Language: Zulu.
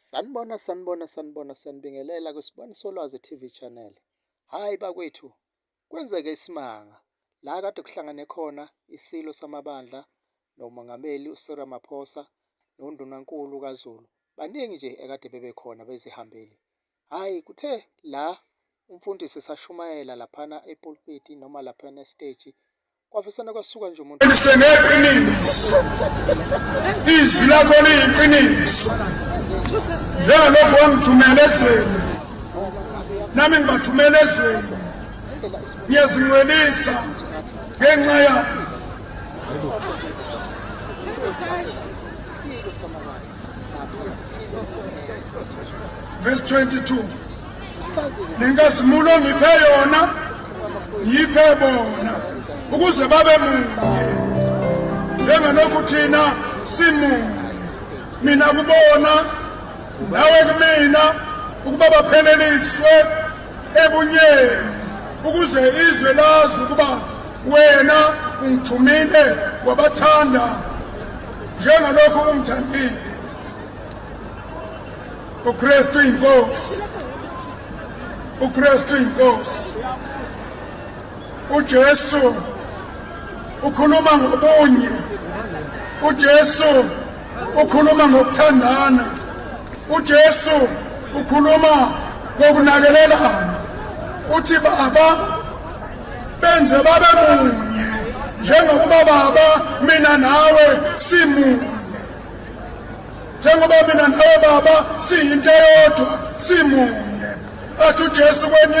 Sanibona sanibona sanibona sanibingelela kwisibani solwazi TV channel. Hayi bakwethu kwenzeke isimanga la kade kuhlangane khona isilo samabandla nomongameli uSir Ramaphosa noNdunankulu kaZulu. Baningi nje ekade bebekhona bezihambeli. Hayi kuthe la umfundisi esashumayela laphana epulpiti noma laphana esiteji kwavesane kwasuka nje umuntu lisengeqiniso izwi lakho liyiqiniso njengalokhu wangithumela ezweni nami ngibathumela ezweni ngiyazingcwelisa ngenxa yakho verse 22 nenkazimulo ngiphe yona yiphe bona ukuze babe munye njengalokhu thina simunye mina kubona nawe kumina ukuba bapheleliswe ebunyeni ukuze izwe lazi ukuba wena ungithumile wabathanda njengalokhu ungithandile uKristu inkosi uKristu inkosi uJesu ukhuluma ngobunye uJesu ukhuluma ngokuthandana uJesu ukhuluma ngokunakelelana uthi baba benze babe munye njengokuba baba mina nawe simunye njengoba mina nawe baba siyinto eyodwa simunye athi ujesu kwenye